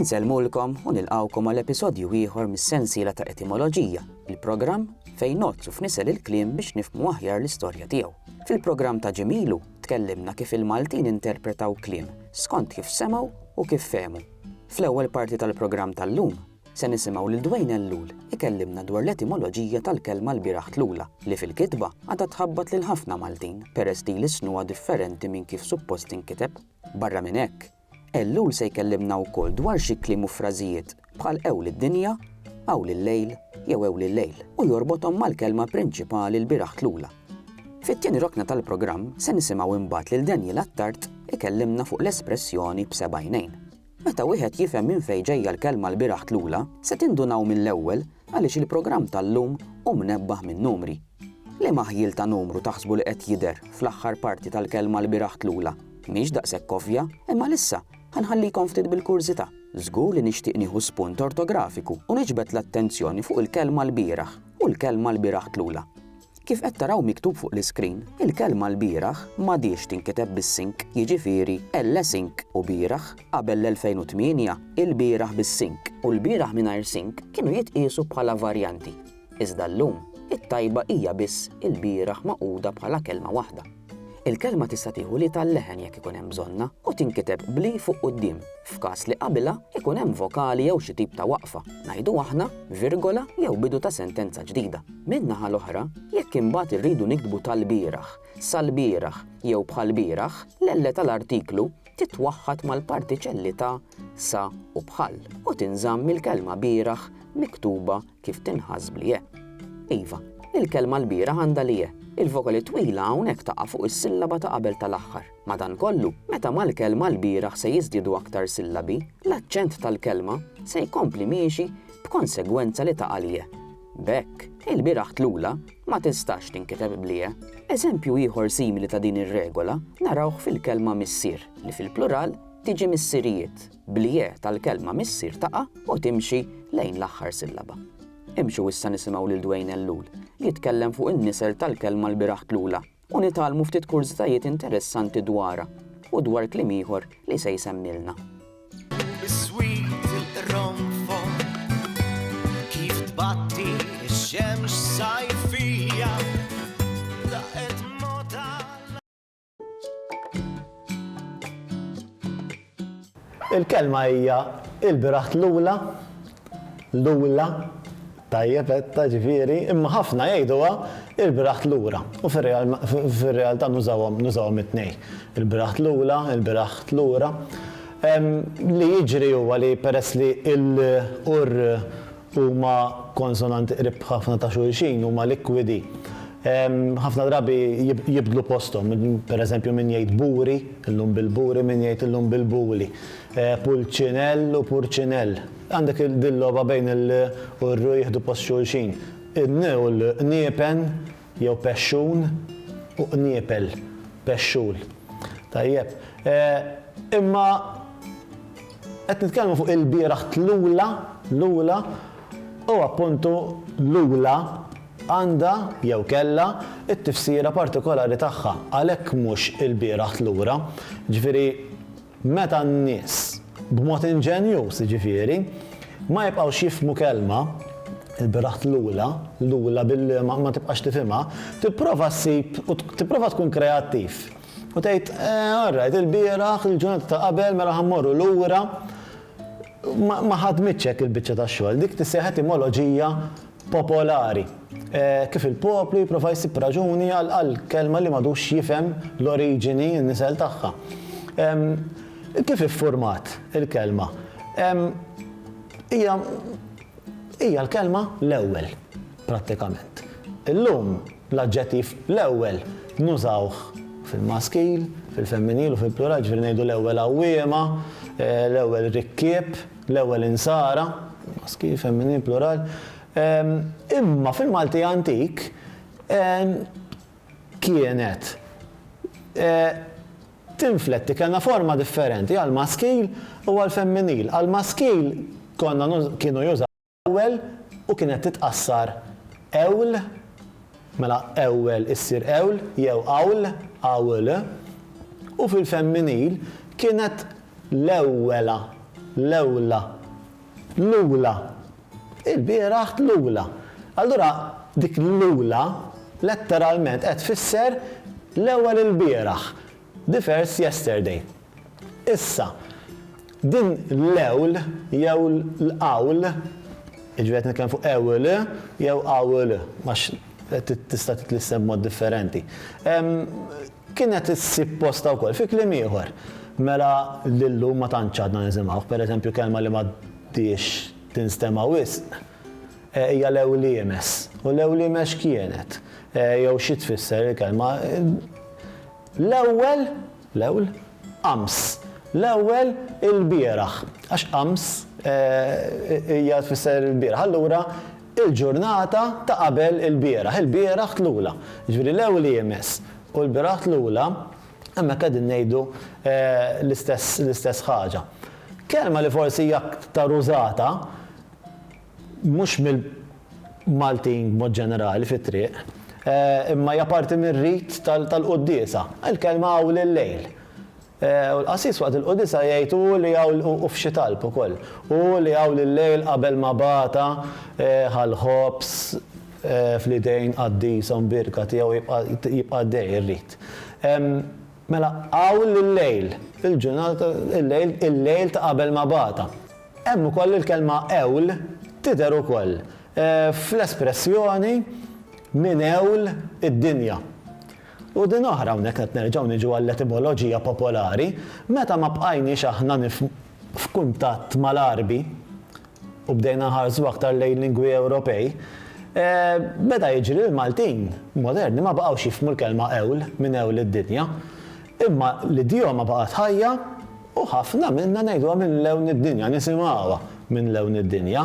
Insellmulkom u nilqgħukom għal episodju ieħor mis-sensiela ta' Etimoloġija, il-programm fejn ngħoddsu f'nisel il-kliem biex nifhmu aħjar l-istorja tiegħu. Fil-programm ta' ġimgħa ilu tkellimna kif il-Maltin interpretaw kliem skont kif semgħu u kif fehmu. Fl-ewwel parti tal-programm tal-lum se nisimgħu lil Dwayne Ellul ikellimna dwar l-etimoloġija tal-kelma l-bieraħ tlula li fil-kitba għadha tħabbat lil ħafna Maltin peress li jlissnuha differenti minn kif suppost tinkiteb. Barra minn hekk, Ellul se jkellimna wkoll dwar xi kliem u frażijiet bħal Ewl id-dinja, Awl il-lejl jew Ewli l-lejl u jorbothom mal-kelma prinċipali l-bieraħ tlula. Fit-tieni rokna tal-programm se nisimgħu imbagħad lil Daniel Attard ikellimna fuq l-espressjoni b'seba' għajnejn. Meta wieħed jifhem minn fejn ġejja l-kelma l-bieraħ tlula, se tindunaw mill-ewwel għaliex il-programm tal-lum hu mnebbaħ min-numri. Liema ħjiel ta' numru taħsbu li qed jidher fl-aħħar parti tal-kelma lbieraħ tlula? Mhix daqshekk ovvja, imma għalissa ħa nħallikom ftit bil-kurżità. Żgur li nixtieq nieħu spunt ortografiku u niġbed l-attenzjoni fuq il-kelma lbieraħ u l-kelma lbieraħ tlula. Kif qed taraw miktub fuq l-iskrin, il-kelma lbieraħ m'għadhiex tinkiteb bis-sink, jiġifieri l-sink u bieraħ. Qabel l-2008, ilbieraħ bis-sink u lbieraħ mingħajr sink kienu jitqiesu bħala varjanti. Iżda llum, it-tajba hija biss ilbieraħ magħquda bħala kelma waħda. Il-kelma tista' tieħu li tal-leħen jekk ikun hemm bżonnha u tinkiteb bl-i fuq quddiem, f'każ li qabilha ikun hemm vokali jew xi tip ta' waqfa, ngħidu aħna, virgola jew bidu ta' sentenza ġdida. Min-naħa l-oħra, jekk imbagħad irridu niktbu tal-bieraħ, sal-bieraħ jew bħall-bieraħ, l-elle tal-artiklu titwaħħad mal-partiċelli ta' sa u bħal u tinżamm il-kelma bieraħ miktuba Kif tinħass bl ie? Iva, il-kelma l-bieraħ għandha l ie. Il-vokali twila hawnhekk taqa' fuq is-sillaba ta' qabel tal-aħħar. Madankollu, meta mal-kelma l-bieraħ se jiżdiedu aktar sillabi, l-aċċent tal-kelma se jkompli miexi b'konsegwenza li taqa' l ie. B'hekk, il-bieraħ tlula ma tistax tinkiteb bl ie. Eżempju ieħor simili ta' din ir-regola narawh fil-kelma missier, li fil-plural tiġi missirijiet. bl-ie tal-kelma missier taqa' u timxi lejn l-aħħar sillaba. Imxu issa nisimgħu lil Dwayne Ellul jitkellem fuq in-nisel tal-kelma l-bieraħ tlula u nitgħallmu ftit kurżitajiet interessanti dwarha u dwar kliem ieħor li se jsemmilna. Biswit il-qronfol kif tbatti x-xemx sajfija. Il-kelma hija il-biraħt lula, lula, tajjeb etta ġifieri, imma ħafna jgħiduha il-biraħt lura. U fir-realtà nużawhom nużawhom it-tnejn. Il-biraħt lula, il-biraħt lura. Li jiġri huwa li peress li l-ur Huma konsonanti qrib ħafna ta' xulxin, huma likwidi. Ħafna drabi jibdlu posthom, per eżempju min jgħid buri, illum bil-buri, min jgħid illum bil-buli. Pulċinell u purċinell. Għandek din logħba bejn il-l u r-r jieħdu post xulxin. In-n u l-l, niepen. Jew pexxun u qniepel, pexxul. Tajjeb. Imma qed nitkellmu fuq ilbieraħ tlula, lula, u appuntu lula għandha, jew kellha, it-tifsira partikolari tagħha. Għalhekk mhux ilbieraħ tlura. Jiġifieri. Meta n-nies, b'mod inġenjuż jiġifieri, ma jibqgħux jifhmu kelma, il-bieraħ tlula, lula billi ma tibqax tifhimha, tipprova ssib u tipprova tkun kreattiv u tgħid, Orrajt, il-bieraħ, il-ġurnata ta' qabel, mela ħa mmorru lura, ma ħadmitx hekk il-biċċa tax-xogħol, dik tissejjaħ etimoloġija popolari, kif il-poplu jipprova jsib raġuni għal kelma li m'għadux jifhem l-oriġini, n-nisel tagħha. Kif iffurmat il-kelma? Hija hija l-kelma l-ewwel, prattikament. Illum l-aġġettiv l-ewwel nużawh fil-maskil, fil-femminil u fil-plural, jiġifieri ngħidu l-ewwel għawwiema, l-ewwel rikkieb, L-ewwel insara, maskil, femminil, plural, imma fil-Malti antik kienet tinfletti, kellna forma differenti għall-maskil u għall-femminil. Għall-maskil konna, kienu jużaw, Ewwel u kienet titqassar ewl, mela ewwel issir ewl jew awl, awl, u fil-femminil kienet l-ewwela, l-ewla, l-ula, ilbieraħ tlula. Allura dik l-ula letteralment qed tfisser l-ewwel ilbieraħ, the first yesterday. Issa, din l-ewl jew l-qawl, jiġifieri qed nitkellem fuq ewil jew qawl għax tista' titlissem b'mod differenti, kienet issib postha wkoll fi kliem ieħor. Mela l-illum ma tantx għadna nisimgħuh. Per eżempju kelma li m'għaddhiex tinstema' wisq hija l-ewliemes. U l-ewlieme x'kienet? Jew xi tfisser il-kelma? L-ewwel L-ewl, ams. L-ewwel, ilbieraħ. Għax ams hija tfisser ilbieraħ. Allura, il-ġurnata ta' qabel ilbieraħ. Ilbieraħ tlula. Jiġifieri l-ewl hi imis u lbieraħ tlula, hemmhekk qegħdin ngħidu l-istess l-istess ħaġa. Kelma li forsi hija aktar użata, mhux mill-Maltin b'mod ġenerali fit-triq, imma hija parti mir-rit tal-quddiesa. Il-kelma hawn hi l-lejl. U l-qassis waqt il-qudisa jgħid u hu li hawn u f'xi talb ukoll, u hu li hawn il-lejl qabel ma bata ħa l-ħobż fl-idejn qaddishom birka tiegħu jibqa' jibqa' għaddej ir-rit. Mela hawn il-lejl, il-ġurnata, il-lejl, il-lejl ta' qabel ma bata. Hemm ukoll il-kelma għewl tidher ukoll fl-espressjoni minn għewl id-dinja. U din oħra hawnhekk qed nerġgħu niġu għall-etimoloġija popolari, meta ma bqajniex aħna f'kuntatt mal-Għarbi u bdejna nħarsu aktar lejn lingwi Ewropej, beda jiġri li l-Maltin moderni ma baqgħux jifhmu l-kelma għewl minn għewl id-dinja, imma l-idjoma baqgħet ħajja, U ħafna minna ngħiduha minn lewn id-dinja, nisimgħuha minn lewn id-dinja.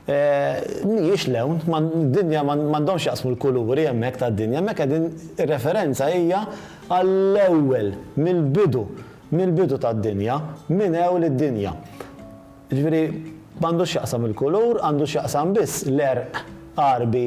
Mhijiex lewn, d-dinja m'għandhomx x'jaqsmu l-kuluri hemmhekk tad-dinja, hemmhekk qegħdin ir-referenza hija għall-ewwel, mill-bidu, mill-bidu tad-dinja, minn ewl id-dinja. Jiġifieri m'għandux x'jaqsam il-kulur, għandu x'jaqsam biss l-għerq Għarbi,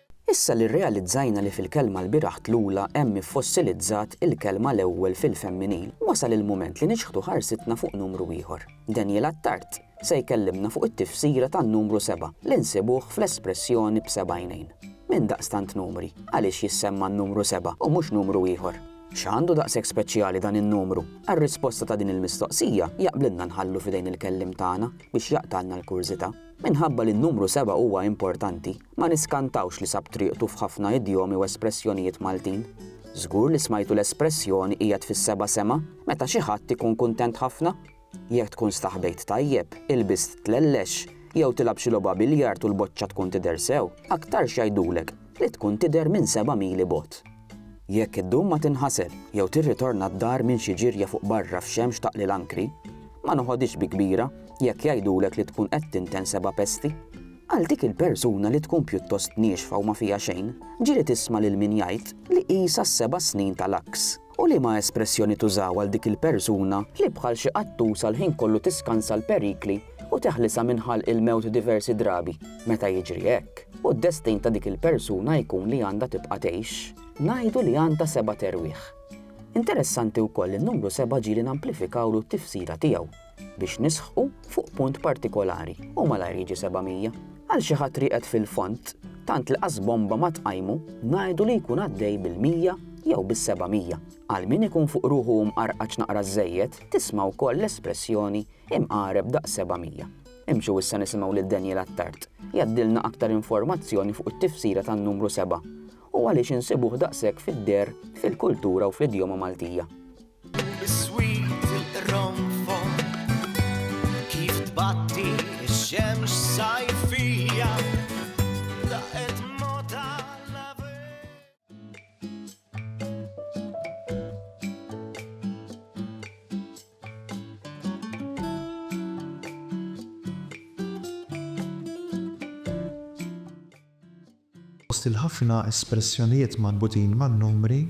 Issa li rrealizzajna li fil-kelma lbieraħ tlula hemm iffossilizzat il-kelma l-ewwel fil-femminil, wasal il-mument li niċħdu ħarsitna fuq numru ieħor. Daniel Attard se jkellimna fuq it-tifsira tan-numru sebgħa li nsibuh fl-espressjoni b'seba' għajnejn. Minn daqstant numri, għaliex jissemma n-numru sebgħa u mhux numru ieħor? X'għandu daqshekk speċjali dan in-numru? Għar-risposta ta' din il-mistoqsija jaqblilna nħallu f'idejn il-kelliem tagħna biex jaqtgħalna l-kurżità. Minħabba li n-numru seba' huwa importanti, ma niskantawx li sab triqtu f'ħafna idjomi u espressjonijiet Maltin. Żgur li smajtu l-espressjoni qiegħed fis-seba' sema meta xi ħadd ikun kuntent ħafna. Jekk tkun staħbejt tajjeb, ilbist tlellex, jew tilgħab xi logħba biljard u l-boċċa tkun tidher sew, aktarx jgħidulek li tkun tidher minn seba' mili bogħod. Jekk iddum ma tinħasel jew tirritorna d-dar minn xi ġirja fuq barra f'xemx taqli l-ankri, ma noħodhiex bi kbira jekk jgħidulek li tkun qed tinten seba' pesti. Għal dik il-persuna li tkun pjuttost niexfa u ma fiha xejn, ġieli tisma' lil min jgħid li qisha s-seba' snin tal-għaks. U liema espressjoni tużaw għal dik il-persuna li bħal xi qattusa l-ħin kollu tiskansa l-perikli u teħlisha minn ħalq il-mewt diversi drabi meta jiġri hekk, u d-destin ta' dik il-persuna jkun li għandha tibqa' tgħix, ngħidu li għandha sebat erwieħ. Interessanti wkoll li n-numru seba' ġieli namplifikawlu t-tifsira tiegħu biex nisħqu fuq punt partikolari u malajr jiġi seba' mija. Għal xi ħadd rieqed fil-fond, tant li qas bomba ma tqajmu, ngħidu li jkun għaddej bil-mija jew bis-seba' mija. Għal min ikun fuq ruħu u mqarqaċ naqra żżejjed, tisma' wkoll l-espressjoni Hemm għareb daqs seba' mija. Imxu issa nisimgħu lil Daniel Attard jgħaddilna aktar informazzjoni fuq it-tifsira tan-numru seba' u għaliex insibuh daqshekk fid-deher fil-kultura u fl-idjoma Maltija. Biswit il-qronfol kif tbatti x-xemx sajfija. Fost il-ħafna espressjonijiet marbutin man-numri,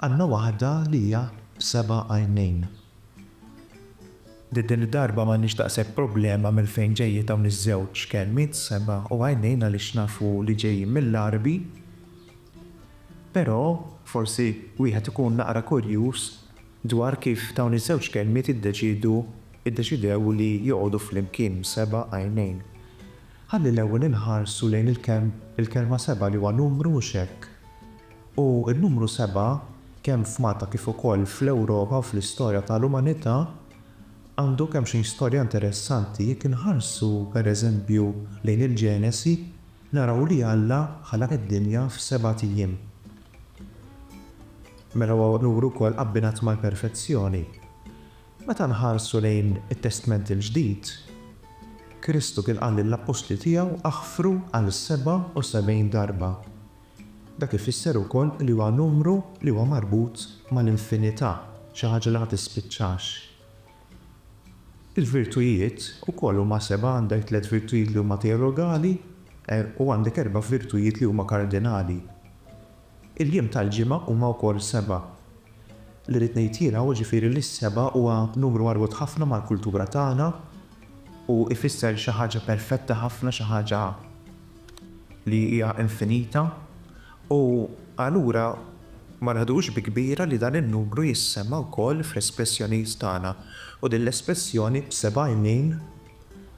għandna waħda li hija b'seba' għajnejn. Din id-darba m'għandniex daqshekk problema minn fejn ġejjin dawn iż-żewġ kelmiet seba' u għajnejn għaliex nafu li ġejjin mill-Għarbi, Però forsi wieħed ikun naqra kurjuż dwar kif dawn iż-żewġ kelmiet iddeċiedu iddeċidew li joqogħdu flimkien b'seba' għajnejn. Ħalli l-ewwel inħarsu lejn il-kelma seba' li huwa numru mhux hekk? U n-numru seba' kemm f'Malta kif ukoll fl-Ewropa u fl-istorja ta' l-umanità għandu kemmxejn storja interessanti jekk inħarsu pereżempju lejn il-Ġenesi Naraw li Alla ħalaq id-dinja f'sebat ijiem. Mela huwa unur ukoll abbinat mal-perfezzjoni. Meta nħarsu lejn it-Testment il-Ġdid, Kristu kien qal lill-appostli tiegħu aħfru għal sebgħa u sebgħin darba. Dak ifisser ukoll li huwa numru li huwa marbut mal-infinità, xi ħaġa li ma tispiċċax. Il-virtujiet ukoll huma seba', għandek tliet virtujiet li huma teologali u għandek erba' virtujiet li huma kardinali. Il-jiem tal-ġimgħa huma wkoll seba'. Li rrid ngħid jiena hu ġifieri li s-seba' huwa numru marbut ħafna mal-kultura tagħna u jfisser xi ħaġa perfetta ħafna, xi ħaġa li hija infinita. U allura ma neħduhx bi kbira li dan in-numru jissema' wkoll fl-espressjonijiet tagħna. U din l-espressjoni b'seba' għajnejn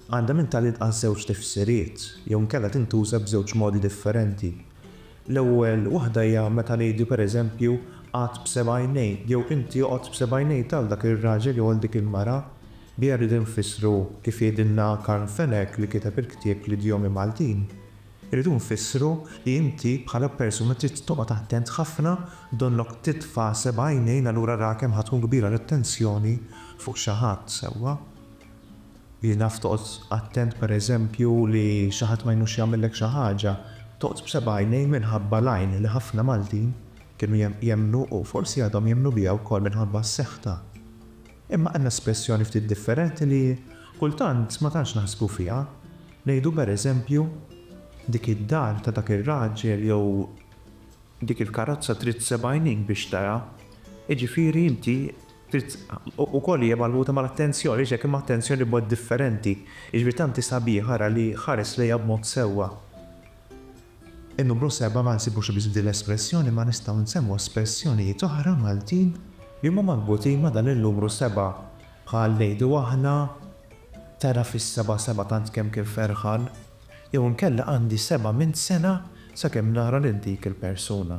għandha minn tal-inqas żewġ tifsiriet, jew inkella tintuża b'żewġ modi differenti. L-ewwel waħda hija meta ngħidu pereżempju qagħad b'seba' għajnejk jew inti oqgħod b'seba' għajnejk għal dak ir-raġel jew għal dik il-mara. Biha rridu nfissru, kif jgħidilna Carl Fenech li kiteb il-ktieb L-Idjomi Maltin, Irridu nfissru li inti bħala persuna trid toqgħod attent ħafna donnok titfa' seba' għajnejn allura ra kemm ħa tkun kbira l-attenzjoni fuq xi ħadd, sewwa? Li naf toqgħod attent pereżempju li xi ħadd ma jnux jagħmillek xi ħaġa, toqgħod b'seba' għajnejn minħabba l-għajn li ħafna Maltin kienu jemmnu u forsi għadhom jemmnu biha wkoll minħabba s-seħħ ta'. Imma għandna espressjoni ftit differenti li kultant ma tantx naħsbu fiha. Ngħidu per eżempju, Dik id-dar ta' dak ir-raġel jew Dik il-karozza trid seb' għajnejn biex tara. Jiġifieri inti trid ukoll hija marbuta mal-attenzjoni, għaliex hekk imma attenzjoni b'mod differenti. Jiġifieri tant hi sabiħa ara li ħares lejha b'mod sewwa. In-numru seba' ma nsibux biss f'din l-espressjoni imma nistgħu nsemmu espressjonijiet oħra Maltin li huma marbutin ma' dan in-numru seba' bħal ngħidu aħna, tara fis-seba' seba' tant kemm kien ferħan jew inkella għandi seba' minn sena sakemm nara lil dik il-persuna.